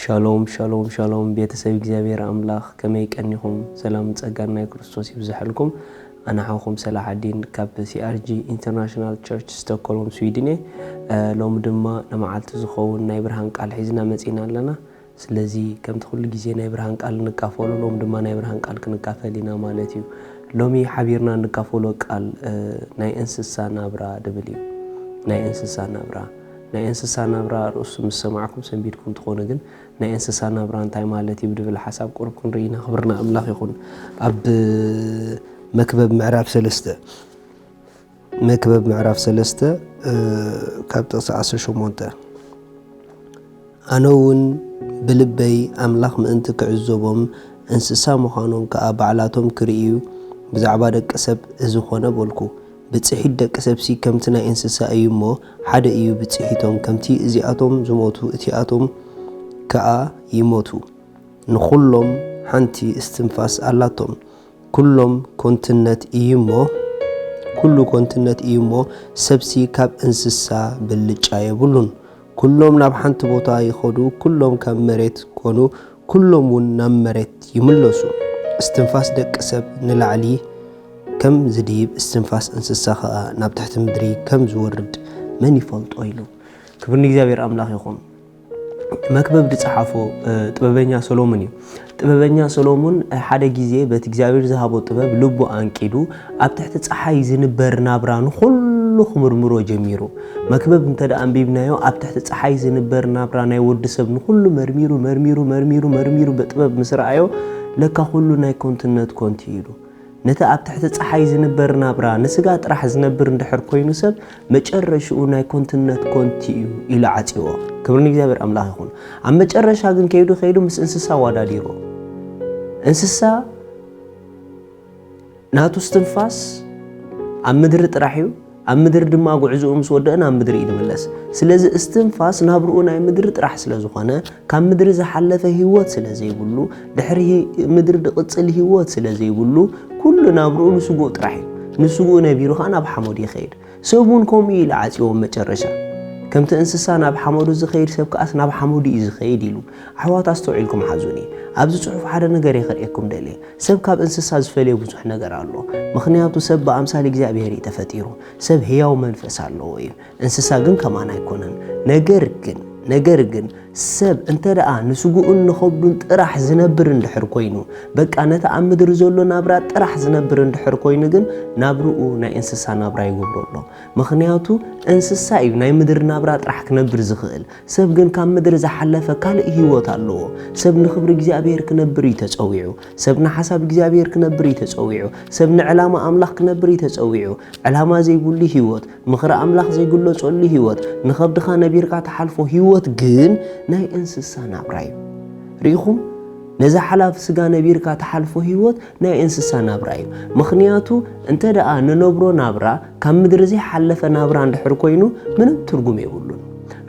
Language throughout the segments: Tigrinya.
ሻሎም ሻሎም ሻሎም ቤተሰብ እግዚኣብሔር ኣምላኽ ከመይ ቀኒኹም ሰላምን ጸጋን ናይ ክርስቶስ ይብዝሐልኩም ኣነ ሓውኩም ሰላ ዓዲን ካብ ሲኣርጂ ኢንተርናሽናል ቸርች ስቶኮልም ስዊድን እየ ሎሚ ድማ ንመዓልቲ ዝኸውን ናይ ብርሃን ቃል ሒዝና መጺና ኣለና ስለዚ ከምቲ ኩሉ ግዜ ናይ ብርሃን ቃል እንካፈሉ ሎም ድማ ናይ ብርሃን ቃል ክንካፈል ኢና ማለት እዩ ሎሚ ሓቢርና እንካፈሎ ቃል ናይ እንስሳ ናብራ ድብል እዩ ናይ እንስሳ ናብራ ናይ እንስሳ ናብራ ርእሱ ምስ ሰማዕኩም ሰንቢድኩም ትኾኑ ግን ናይ እንስሳ ናብራ እንታይ ማለት እዩ ብድብል ሓሳብ ቁሩብ ክንርኢ ኢና ክብሪ ንኣምላኽ ይኹን ኣብ መክበብ ምዕራፍ ሰለስተ መክበብ ምዕራፍ ሰለስተ ካብ ጥቕሲ ዓሰርተ ሸሞንተ ኣነ እውን ብልበይ ኣምላኽ ምእንቲ ክዕዘቦም እንስሳ ምዃኖም ከዓ ባዕላቶም ክርእዩ ብዛዕባ ደቂ ሰብ እዚ ኾነ በልኩ ብጽሒት ደቂ ሰብሲ ከምቲ ናይ እንስሳ እዩ እሞ ሓደ እዩ ብጽሒቶም፣ ከምቲ እዚኣቶም ዝሞቱ እቲኣቶም ከኣ ይሞቱ። ንኹሎም ሓንቲ እስትንፋስ ኣላቶም። ኩሎም ኮንትነት እዩ እሞ ኩሉ ኮንትነት እዩ እሞ ሰብሲ ካብ እንስሳ ብልጫ የብሉን። ኩሎም ናብ ሓንቲ ቦታ ይኸዱ፣ ኩሎም ካብ መሬት ኮኑ፣ ኩሎም ውን ናብ መሬት ይምለሱ። እስትንፋስ ደቂ ሰብ ንላዕሊ ከም ዝድይብ እስትንፋስ እንስሳ ከኣ ናብ ትሕቲ ምድሪ ከም ዝወርድ መን ይፈልጦ ኢሉ። ክብሪ ንእግዚኣብሔር ኣምላኽ ይኹን። መክብብ ዝጸሓፎ ጥበበኛ ሰሎሙን እዩ። ጥበበኛ ሰሎሙን ሓደ ግዜ በቲ እግዚኣብሔር ዝሃቦ ጥበብ ልቡ ኣንቂዱ ኣብ ትሕቲ ጸሓይ ዝንበር ናብራ ንኹሉ ክምርምሮ ጀሚሩ። መክብብ እንተ ኣንቢብናዮ ኣብ ትሕቲ ጸሓይ ዝንበር ናብራ ናይ ወዲ ሰብ ንኹሉ መርሚሩ መርሚሩ መርሚሩ መርሚሩ ብጥበብ ምስ ረኣዮ ለካ ኩሉ ናይ ኮንትነት ኮንት እዩ ኢሉ። ነቲ ኣብ ትሕቲ ጸሓይ ዝንበር ናብራ ንስጋ ጥራሕ ዝነብር እንድሕር ኮይኑ ሰብ መጨረሽኡ ናይ ኮንትነት ኮንት እዩ ኢሉ ዓጽዎ። ክብሪ ንእግዚኣብሔር ኣምላኽ ይኹን። ኣብ መጨረሻ ግን ከይዱ ከይዱ ምስ እንስሳ ኣወዳዲርዎ። እንስሳ ናቱ እስትንፋስ ኣብ ምድሪ ጥራሕ እዩ ኣብ ምድሪ ድማ ጉዕዝኡ ምስ ወደአ ናብ ምድሪ እዩ ዝምለስ ስለዚ እስትንፋስ ናብርኡ ናይ ምድሪ ጥራሕ ስለ ዝኾነ ካብ ምድሪ ዝሓለፈ ህይወት ስለ ዘይብሉ ድሕሪ ምድሪ ዝቕፅል ህይወት ስለ ዘይብሉ ኩሉ ናብርኡ ንስጉኡ ጥራሕ እዩ ንስጉኡ ነቢሩ ከዓ ናብ ሓሞድ ይኸይድ ሰብ እውን ከምኡ እዩ ኢሉ ዓጽዎ ኣብ መጨረሻ። ከምቲ እንስሳ ናብ ሓመዱ ዝኸይድ ሰብ ከኣስ ናብ ሓመዱ እዩ ዝኸይድ ኢሉ። ኣሕዋት ኣስተውዒልኩም ሓዙኒ። ኣብዚ ጽሑፍ ሓደ ነገር እየ ከርእየኩም ደልየ። ሰብ ካብ እንስሳ ዝፈልዮ ብዙሕ ነገር ኣሎ። ምኽንያቱ ሰብ ብኣምሳል እግዚኣብሄር እዩ ተፈጢሩ። ሰብ ህያው መንፈስ ኣለዎ እዩ። እንስሳ ግን ከማና ኣይኮነን። ነገር ግን ነገር ግን ሰብ እንተደኣ ንስግኡን ንኸብዱን ጥራሕ ዝነብር እንድሕር ኮይኑ፣ በቃ ነቲ ኣብ ምድሪ ዘሎ ናብራ ጥራሕ ዝነብር እንድሕር ኮይኑ ግን ናብርኡ ናይ እንስሳ ናብራ ይገብሮ ኣሎ። ምኽንያቱ እንስሳ እዩ ናይ ምድሪ ናብራ ጥራሕ ክነብር ዝኽእል። ሰብ ግን ካብ ምድሪ ዝሓለፈ ካልእ ህይወት ኣለዎ። ሰብ ንኽብሪ እግዚኣብሄር ክነብር እዩ ተጸዊዑ። ሰብ ንሓሳብ እግዚኣብሄር ክነብር እዩ ተጸዊዑ። ሰብ ንዕላማ ኣምላኽ ክነብር እዩ ተጸዊዑ። ዕላማ ዘይብሉ ህይወት፣ ምኽሪ ኣምላኽ ዘይግለጸሉ ህይወት፣ ንኸብድኻ ነቢርካ ትሓልፎ ህይወት ግን ናይ እንስሳ ናብራ እዩ። ርኢኹም? ነዛ ሓላፊ ስጋ ነቢርካ ትሓልፎ ህይወት ናይ እንስሳ ናብራ እዩ። ምኽንያቱ እንተ ደኣ ንነብሮ ናብራ ካብ ምድሪ ዘይሓለፈ ናብራ እንድሕር ኮይኑ ምንም ትርጉም የብሉን።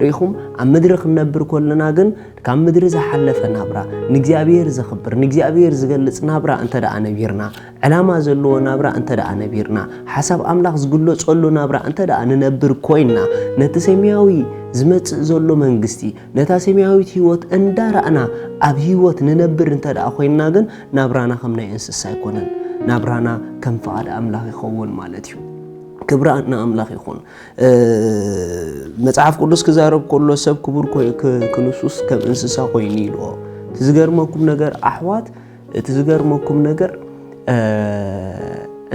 ርኢኹም? ኣብ ምድሪ ክንነብር ከለና ግን ካብ ምድሪ ዝሓለፈ ናብራ፣ ንእግዚኣብሔር ዘኽብር፣ ንእግዚኣብሔር ዝገልጽ ናብራ እንተ ደኣ ነቢርና፣ ዕላማ ዘለዎ ናብራ እንተድኣ ነቢርና፣ ሓሳብ ኣምላኽ ዝግለጸሉ ናብራ እንተድኣ ንነብር ኮይንና፣ ነቲ ሰማያዊ ዝመጽእ ዘሎ መንግስቲ፣ ነታ ሰማያዊት ህይወት እንዳራእና ኣብ ህይወት ንነብር እንተድኣ ኮይንና ግን ናብራና ከም ናይ እንስሳ ኣይኮነን። ናብራና ከም ፍቓድ ኣምላኽ ይኸውን ማለት እዩ። ክብሪ ንኣምላኽ ይኹን። መጽሓፍ ቅዱስ ክዛረብ ከሎ ሰብ ክቡር ክንሱስ ከም እንስሳ ኮይኑ ኢልዎ። እቲ ዝገርመኩም ነገር ኣሕዋት እቲ ዝገርመኩም ነገር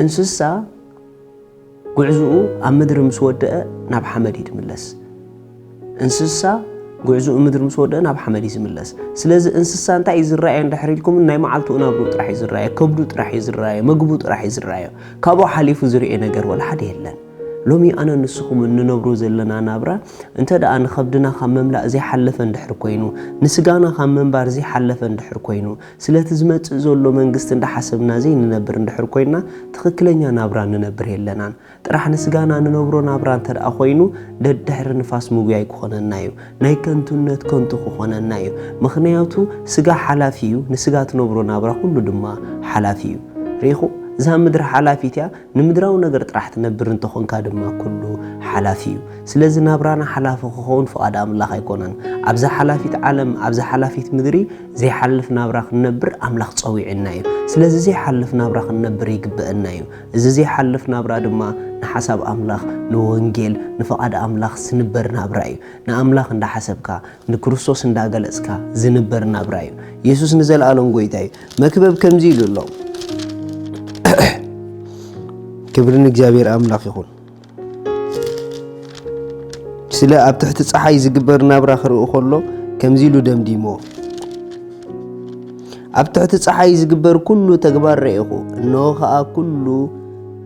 እንስሳ ጉዕዝኡ ኣብ ምድሪ ምስ ወደአ ናብ ሓመድ እዩ ትምለስ እንስሳ ጉዕዝኡ ምድሪ ምስ ወደአ ናብ ሓመድ እዩ ዝምለስ ስለዚ እንስሳ እንታይ እዩ ዝረኣየ እንድሕር ኢልኩም ናይ መዓልቱ ናብሩ ጥራሕ እዩ ዝረኣየ ከብዱ ጥራሕ እዩ ዝረኣየ ምግቡ ጥራሕ እዩ ዝረኣየ ካብኡ ሓሊፉ ዝርኤ ነገር ወላ ሓደ የለን ሎሚ ኣነ ንስኹም እንነብሮ ዘለና ናብራ እንተደኣ ንኸብድና ኻብ ምምላእ ዘይሓለፈ እንድሕር ኰይኑ፣ ንስጋና ኻብ ምንባር ዘይሓለፈ እንድሕር ኰይኑ፣ ስለቲ ዝመጽእ ዘሎ መንግስቲ እንዳሓሰብና ዘይንነብር እንድሕር ኰይንና ትኽክለኛ ናብራ ንነብር የለናን። ጥራሕ ንስጋና ንነብሮ ናብራ እንተደኣ ኰይኑ ደድሕሪ ንፋስ ምጉያይ ክኾነና እዩ። ናይ ከንቱነት ከንቱ ክኾነና እዩ። ምኽንያቱ ስጋ ሓላፊ እዩ፣ ንስጋ ትነብሮ ናብራ ኹሉ ድማ ሓላፊ እዩ። ርኢኹ? እዛ ምድሪ ሓላፊት እያ፣ ንምድራዊ ነገር ጥራሕ ትነብር እንተ ኾንካ ድማ ኩሉ ሓላፊ እዩ። ስለዚ ናብራና ሓላፊ ክኸውን ፍቓድ ኣምላኽ ኣይኮነን። ኣብዛ ሓላፊት ዓለም ኣብዛ ሓላፊት ምድሪ ዘይሓልፍ ናብራ ክንነብር ኣምላኽ ጸዊዑና እዩ። ስለዚ ዘይሓልፍ ናብራ ክንነብር ይግበእና እዩ። እዚ ዘይሓልፍ ናብራ ድማ ንሓሳብ ኣምላኽ ንወንጌል ንፍቓድ ኣምላኽ ዝንበር ናብራ እዩ። ንኣምላኽ እንዳ ሓሰብካ ንክርስቶስ እንዳ ገለጽካ ዝንበር ናብራ እዩ። የሱስ ንዘልኣለም ጎይታ እዩ። መክበብ ከምዚ ኢሉ ኣሎ ክብሪ ንእግዚኣብሔር ኣምላኽ ይኹን ስለ ኣብ ትሕቲ ፀሓይ ዝግበር ናብራ ክርኢ ከሎ ከምዚ ኢሉ ደምዲሞ ኣብ ትሕቲ ፀሓይ ዝግበር ኩሉ ተግባር ረኢኹ እነሆ ከዓ ኩሉ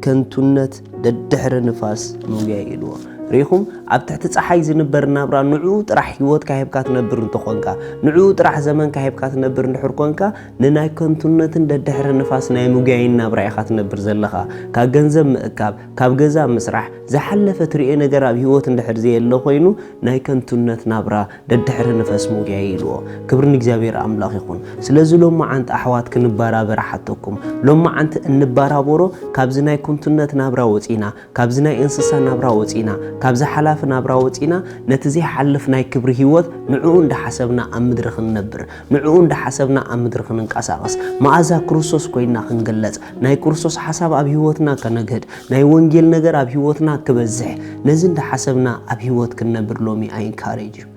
ከንቱነት ደድሕሪ ንፋስ ምጉያይ ኢልዎ ርኢኹም ኣብ ትሕቲ ፀሓይ ዝንበር ናብራ ንዕኡ ጥራሕ ሂወትካ ሂብካ ትነብር እንተኾንካ ንዕኡ ጥራሕ ዘመንካ ሂብካ ትነብር እንድሕር ኮንካ ንናይ ከንቱነትን ደድሕሪ ንፋስ ናይ ምጉያይን ናብራ ኢኻ ትነብር ዘለኻ ካብ ገንዘብ ምእካብ ካብ ገዛ ምስራሕ ዝሓለፈ ትርኦ ነገር ኣብ ሂወት እንድሕር ዘየለ ኮይኑ ናይ ከንቱነት ናብራ ደድሕሪ ንፈስ ምጉያይ ኢልዎ። ክብሪ ንእግዚኣብሔር ኣምላኽ ይኹን። ስለዚ ሎምዓንቲ ኣሕዋት ክንባራበር እሓተኩም። ሎምዓንቲ እንባራበሮ ካብዚ ናይ ኩንቱነት ናብራ ወጺና፣ ካብዚ ናይ እንስሳ ናብራ ወጺና፣ ካብዚ ሓላፊ ናብራ ወጺና ነቲ ዘይሓልፍ ናይ ክብሪ ሕይወት ንዕኡ እንዳሓሰብና ኣብ ምድሪ ክንነብር ንዕኡ እንዳሓሰብና ኣብ ምድሪ ክንንቀሳቐስ፣ መኣዛ ክርስቶስ ኮይንና ክንግለጽ፣ ናይ ክርስቶስ ሓሳብ ኣብ ህይወትና ከነግህድ፣ ናይ ወንጌል ነገር ኣብ ህይወትና ክበዝሕ፣ ነዚ እንዳሓሰብና ኣብ ህይወት ክንነብር ሎሚ I encourage you።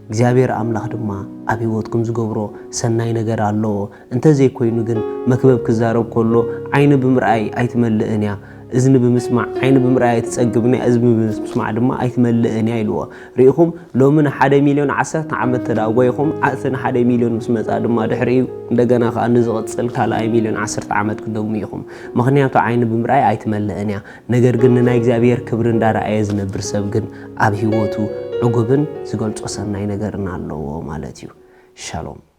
እግዚኣብሔር ኣምላኽ ድማ ኣብ ህይወትኩም ዝገብሮ ሰናይ ነገር ኣለዎ። እንተዘይኮይኑ ግን መክበብ ክዛረብ ከሎ ዓይኒ ብምርኣይ ኣይትመልእን እያ። እዝኒ ብምስማዕ ዓይኒ ብምርኣይ ኣይትጸግብን እያ፣ እዝኒ ብምስማዕ ድማ ኣይትመልእን እያ ኢልዎ። ርኢኹም፣ ሎሚ ንሓደ ሚልዮን ዓሰርተ ዓመት እንተድኣ ጐይኹም፣ እቲ ንሓደ ሚልዮን ምስ መጽኣ ድማ ድሕሪኡ እንደገና ኸኣ ንዝቕጽል ካልኣይ ሚልዮን ዓሰርተ ዓመት ክትደግሙ ኢኹም። ምኽንያቱ ዓይኒ ብምርኣይ ኣይትመልእን እያ። ነገር ግን ንናይ እግዚኣብሄር ክብሪ እንዳረኣየ ዝነብር ሰብ ግን ኣብ ህይወቱ ዕጉብን ዝገልጾ ሰናይ ነገርን ኣለዎ ማለት እዩ። ሻሎም።